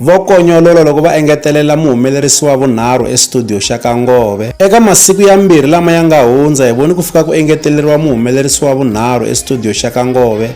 Vo konyolola loko va engetelela muhumelerisi wa vunharhu estudiyo xa ka Ngove. Eka masiku yambirhi lama ya nga hundza hi voni ku fika ku engeteleriwa muhumelerisi wa vunharhu estudiyo xa ka Ngove,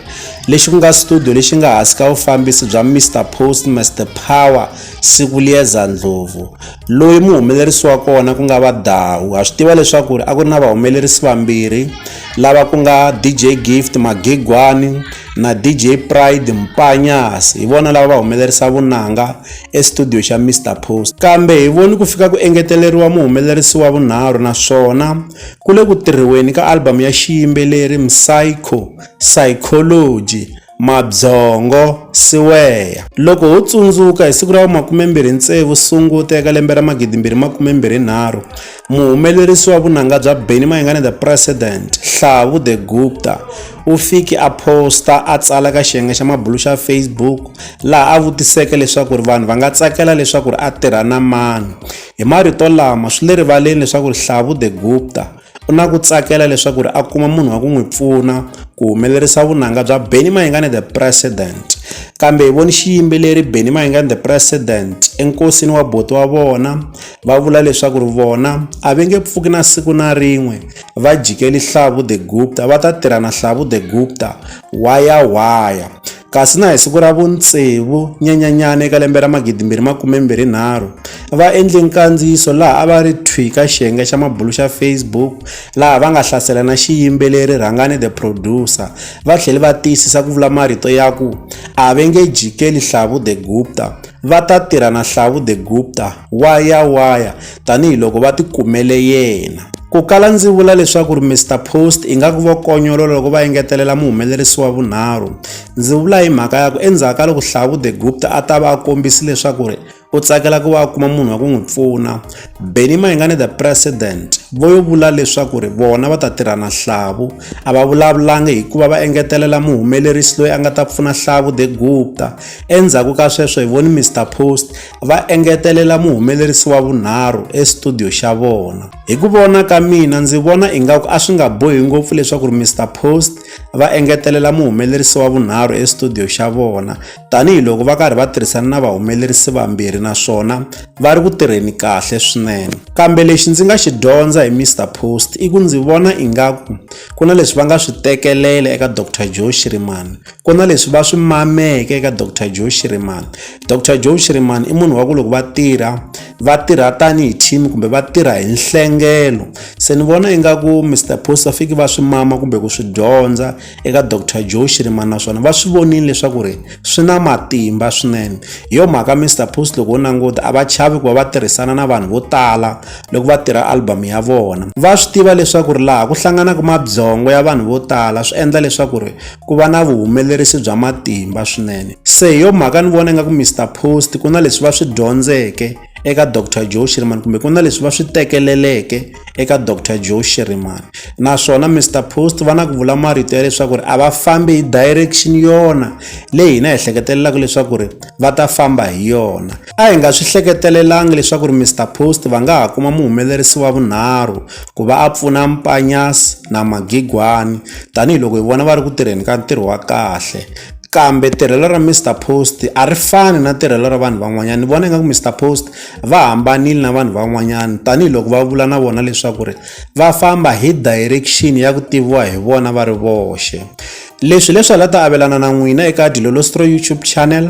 lexi ku nga studiyo lexi nga hansi ka vufambisi bya Mister Post Mister Power Sikulieza Ndlovu, loyi muhumelerisi wa kona ku nga va Dawu. Ha swi tiva leswaku a ku ri na vahumelerisi vambirhi lava ku nga DJ Gift Magigwani. na DJ Pride Mpanyas hi vona lava va humelerisa vunanga estudio xa Mr Post kambe hi voni ku fika ku engeteleriwa muhumelerisi wa vunharhu naswona ku le ku tirhiweni ka album ya xiyimbeleri Psycho Psychology mabyongo siweya loko ho tsundzuka hi siku ra makume mbirhi tsevu sunguta eka lembe ra magidi mbirhi makume mbirhi nharhu Muhumelerisi wa vunanga bya Benny Mayengani The President, Hlavu The Gupta, u fike a phosta a tsala ka xiyenge xa mabulu xa Facebook laha a vutiseke leswaku ri vanhu va nga tsakela leswaku ri a tirha na mani. Hi marito lama swi le rivaleni leswaku ri Hlavu The Gupta u na ku tsakela leswaku ri a kuma munhu wa ku n'wi pfuna ku humelerisa vunanga bya Benny Mayengani The President. Kambe hi voni xiyimbeleri Benny Mayengani The President enkosini wa buti wa vona va vula leswaku ri vona a va nge pfuki na siku na rin'we va jikeli hlavu the gupta va ta tirha na hlavu the gupta waya waya kasi na hi siku ra vuntsevu nyanyanyana eka lembe ra magidimbirhi makumembirhi nharhu va endle nkandziyiso laha a va ri thwi ka xiyenge xa mabulu xa facebook laha va nga hlasela na xiyimbeleri rhangani the producer va tlhele va tiyisisa ku vula marito ya ku a va nge jikeli hlavu the gupta va ta tirha na hlavu the gupta wa ya wa ya tanihiloko va ti kumele yena. Ku kala ndzi vula leswaku ri Mister Post ingaku vo konyolola loko va engetelela muhumelerisi wa vunharhu. Ndzi vula hi mhaka ya ku endzhaku ka loko Hlavu de Gupta a ta va a kombisi leswaku ri u tsakela ku va a kuma munhu wa ku n'wi pfuna Benny Mayengani the president vo yo vula leswaku ri vona va ta tirha na Hlavu a va vulavulangi hikuva va engetelela muhumelerisi loyi a nga ta pfuna Hlavu de Gupta endzhaku ka sweswo hi voni Mister Post va engetelela muhumelerisi wa vunharhu estudio xa vona. Hi ku vona ka mina ndzi vona ingaku a swi nga bohi ngopfu leswaku ri Mr Post va engetelela muhumelerisi wa vunharhu estudio xa vona tanihiloko va karhi va tirhisana na vahumelerisi vambirhi naswona va ri ku tirheni kahle swinene. Kambe lexi ndzi nga xi dyondza hi Mr Post i ku ndzi vona ingaku ku na leswi va nga swi tekelela eka Doctor Joe Shirimani, ku na leswi va swi mameke eka Doctor Joe Shirimani Dr Joe Shirimani i munhu wa ku loko va tirha va tirha tanihi team kumbe va tirha hi nhlengelo se ni vona ingaku Mr Post va fiki va swi mama kumbe ku swi dyondza eka Dr Joe Shirimani naswona va swi vonile leswaku ri swi na matimba swinene hi yo mhaka Mr Post loko wo languta a va chavi ku va va tirhisana na vanhu vo tala loko va tirha album ya vona va swi tiva leswaku ri laha ku hlanganaka mabyongo ya vanhu vo tala swi endla leswaku ri ku va na vuhumelerisi bya matimba swinene se hi yo mhaka ni vona ingaku mr post ku na leswi va swi dyondzeke eka dr joe shiriman kumbe ku na leswi va swi tekeleleke eka dr joe shiriman naswona mr post va na ku vula marito ya leswaku ri a va fambi hi direction yona leyi hina hi ehleketelelaka leswaku ri va ta famba hi yona A hi nga swi hleketelelanga leswaku ri Mister Post va nga ha kuma muhumelerisi wa vunharhu ku va a pfuna Mpanyas na Magigwani tanihiloko hi vona va ri ku tirheni ka ntirho wa kahle. Kambe tirhelo ra Mister Post a ri fani na tirhelo ra vanhu van'wanyana ni vona ingaku Mister Post va hambanile na vanhu van'wanyana tanihiloko va vula na vona leswaku ri va famba hi direction ya ku tiviwa hi vona va ri voxe. Leswi hileswi a ni la ta avelana na n'wina eka Dilolostroi YouTube channel.